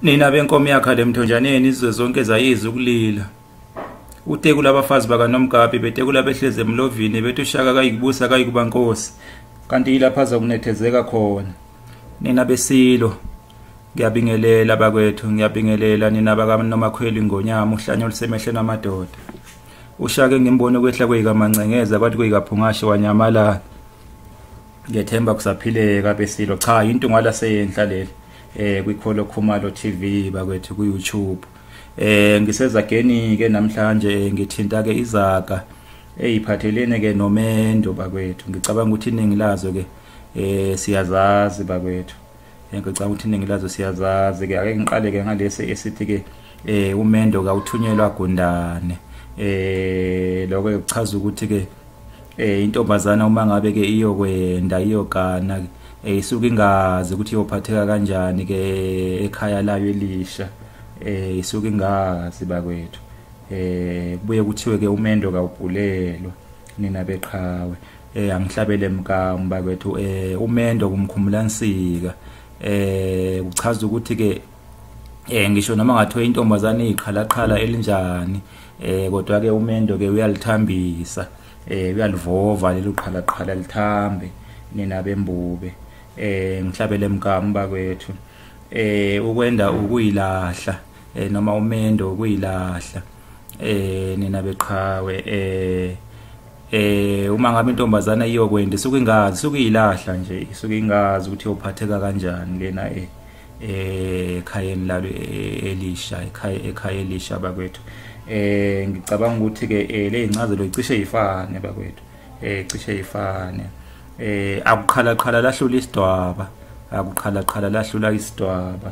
nina benkomo yakha lemthonjaneni izwe zonke zayizwa ukulila utekula abafazi bakanomgabi betekula behlezi emlovini bethi ushaka kayikubusa kayikuba nkosi kanti yilapho azokunethezeka khona nina besilo ngiyabingelela bakwethu ngiyabingelela nina bakanomakhweli ngonyama uhlanya olusemehleni amadoda ushake ngimbone ukwehla kweyikamancenkeza kwathi kuyikaphungashe wanyamalala ngiyethemba kusaphileka besilo cha into ngwala seyenhla leli eh kwikholo khumalo TV bakwethu ku YouTube eh ngisezageni ke namhlanje ngithinta ke izaga eyiphathelene ke nomendo bakwethu ngicabanga ukuthi iningi lazo ke eh siyazazi bakwethu ngicabanga ukuthi iningi lazo siyazazi-ke ake ngiqale-ke ngalesi esithi-ke eh umendo kawuthunyelwa gundane eh lokho kuchaza ukuthi ke eh intombazana uma ngabe ke iyokwenda iyogana ke eh, isuke ingazi ukuthi iyophatheka kanjani ke ekhaya layo elisha eh isuke ingazi bakwethu eh kubuye kuthiwe ke umendo kawubhulelwa nina beqhawe eh angihlabele mka mbakwethu eh umendo kumkhumula nsika eh kuchaza ukuthi ke eh ngisho noma ngathiwa intombazane iqhalaqhala elinjani eh kodwa ke umendo ke uyalithambisa eh uyalivova lelo qhalaqhala lithambe nina bembube eh ngihlabele mkamu bakwethu eh ukwenda ukuyilahla eh noma umendo ukuyilahla eh nina beqhawe eh eh uma ngabe intombazana iyokwenza isuke ingazi isuke ilahla nje isuke ingazi ukuthi yophatheka kanjani lena eh ekhayeni lalo eh, elisha ekhaya ekhaya elisha bakwethu eh ngicabanga ukuthi ke eh, le incazelo icishe ifane bakwethu eh cishe ifane eh akuqhala qhala lahlula isidwaba akuqhala qhala lahlula isidwaba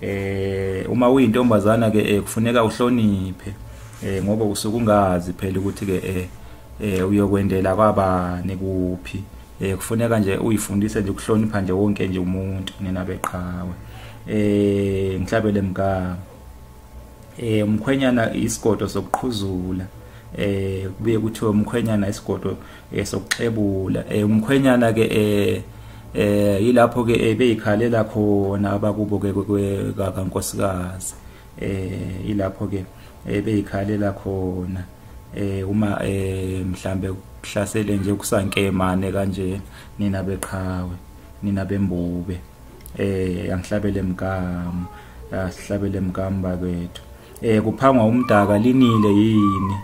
eh uma uyintombazana ke eh, kufuneka uhloniphe eh ngoba usuke ungazi phela ukuthi ke eh, eh uyokwendela kwabani kuphi eh kufuneka nje uyifundise nje ukuhlonipha nje wonke nje umuntu nina beqhawe eh ngihlabele mgama eh umkhwenyana isigodo sokuqhuzula eh kubuye kuthiwe umkhwenyana isigodo esokuxebula eh, eh, umkhwenyana ke eh eh yilapho ke beyikhalela khona abakubo ke kankosikazi eh yilapho ke beyikhalela khona eh uma eh mhlambe kuhlasele nje kusankemane kanje nina beqhawe nina bembube eh angihlabele mkamu asihlabele mkamu bakwethu eh kuphangwa umdaka linile yini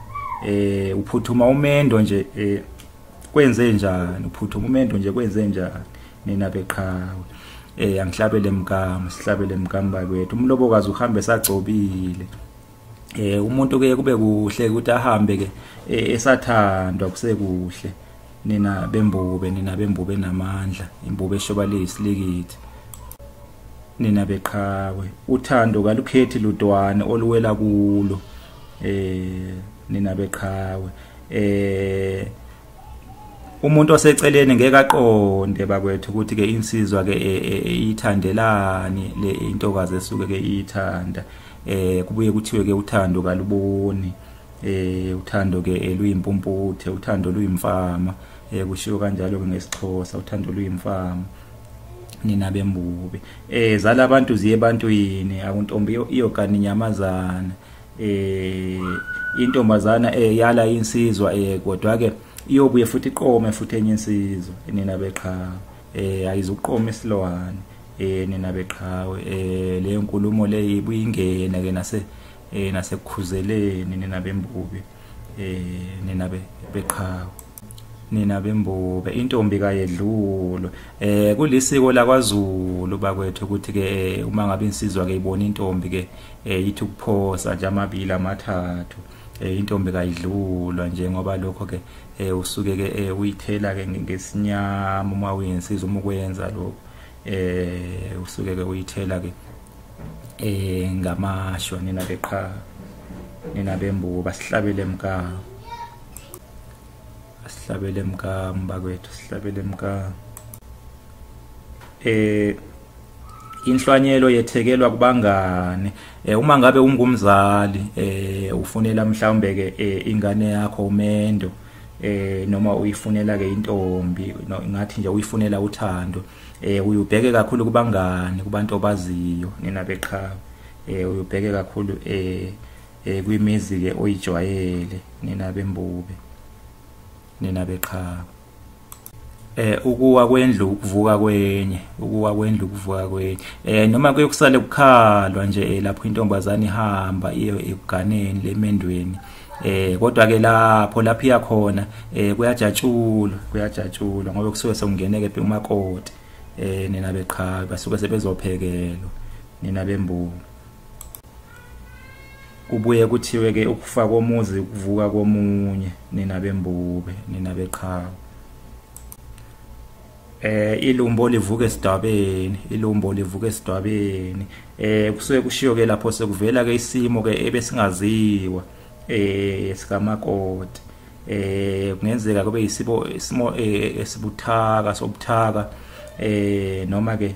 eh uphuthuma umendo nje eh kwenze njani uphuthuma umendo nje kwenze njani nina beqhawe eh angihlabele mkama sihlabele mkama bakwethu umlobokazi uhambe sagcobile eh umuntu ke kube kuhle ukuthi ahambe ke eh, esathandwa kusekuhle nina bembube nina bembube namandla imbube eshoba leyisilikiti nina beqhawe uthando kalukhethi ludwane oluwela kulo eh nina beqhawe eh umuntu oseceleni ngeke aqonde bakwethu ukuthi ke insizwa ke e, e, e, ithandelani le intokazi esuke ke ithanda eh kubuye kuthiwe ke uthando kaluboni eh uthando ke eluyimpumputhe uthando luyimfama eh kushiwo kanjalo ke ngesixhosa uthando luyimfama nina bembubi eh zala abantu ziye abantu yini akuntombi iyogani nyamazana eh intombazana eh yala insizwa eh kodwa ke iyobuye futhi iqome futhi enye insizwa nina beqhawe eh ayizuqoma isilwane eh nina beqhawe eh le nkulumo le ibuyingena ke nase eh nasekukhuzeleni nina bembubi eh nina beqhawe nina bembube intombi kayedlulwe eh kulisiko lakwaZulu bakwethu ukuthi ke eh, uma ngabe insizwa ke ibona intombi ke eh, ithi ukuphosa nje amabili amathathu eh, intombi kayidlulwa nje ngoba lokho ke usuke ke uyithela ke ngesinyama uma uyinsizwa uma ukwenza lokho eh usuke ke uyithela ke eh ngamashwa nina beqha nina bembuko basihlabele emkaka sihlabele mka mbakwethu sihlabele mka eh inhlwanyelo yethekelwa kubangane eh uma ngabe ungumzali eh ufunela mhlawumbe ke eh, ingane yakho umendo eh noma uyifunela ke intombi ngathi nje uyifunela uthando eh uyubheke kakhulu kubangane kubantu obaziyo nina beqhawe eh uyubheke kakhulu eh eh kwimizi ke oyijwayele nina bembube nina beqhaba eh ukuwa kwendlu ukuvuka kwenye ukuwa kwendlu ukuvuka kwenye eh noma kuyokusale kukhalwa nje eh, lapho intombazane ihamba iye ekuganeni lemendweni eh kodwa ke lapho lapho iya khona eh kuyajatshulwa kuyajatshulwa ngoba kusuke sekungeneke phi umakoti eh nina beqhaka basuke sebezophekelwa nina bembuka kubuye kuthiwe ke ukufa komuzi ukuvuka komunye nina bembube nina beqhawe eh ilumbo livuka esidabeni ilumbo livuka esidabeni eh kusuke kushiyo ke lapho sekuvela ke isimo ke ebesingaziwa eh sikamakoti eh kungenzeka kube isibo isimo eh, esibuthaka sobuthaka eh noma ke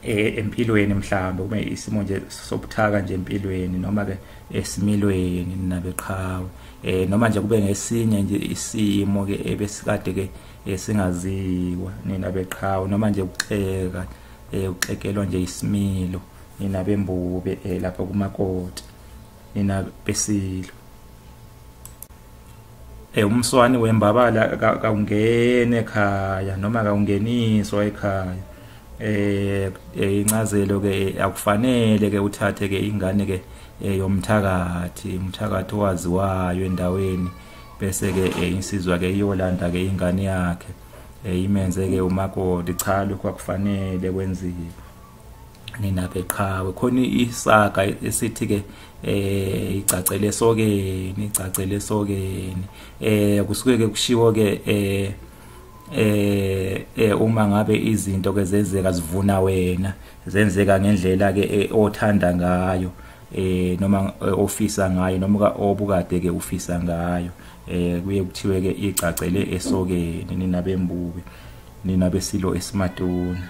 e, empilweni mhlawumbe kube isimo nje sobuthaka nje empilweni noma ke esimilweni nabeqhawe eh noma nje kube ngesinye nje isimo ke ebesikade ke esingaziwa nina beqhawe noma nje ukuxeka eh uxekelwa nje isimilo nina bembube eh lapha kumakoti nina besilwa eh umswani wembabala kawungene ekhaya noma kawungeniswa ekhaya eh, eh incazelo ke akufanele ke uthathe ke ingane ke eh, yomthakathi umthakathi owaziwayo endaweni bese ke eh, insizwa ke iyolanda ke ingane yakhe imenze ke umakoti cha lokho akufanele kwenziwe ninaphe qhawe khona isaga esithi ke eh igcacele sokeni igcacele sokeni eh kusuke ke kushiwo ke eh eh, eh uma ngabe izinto ke zenzeka zivuna wena zenzeka ngendlela ke eh, othanda ngayo eh noma eh, ofisa ngayo noma obukade ke ufisa ngayo eh kuye kuthiwe ke igcacele esokeni nina bembuke nina besilo esimatuna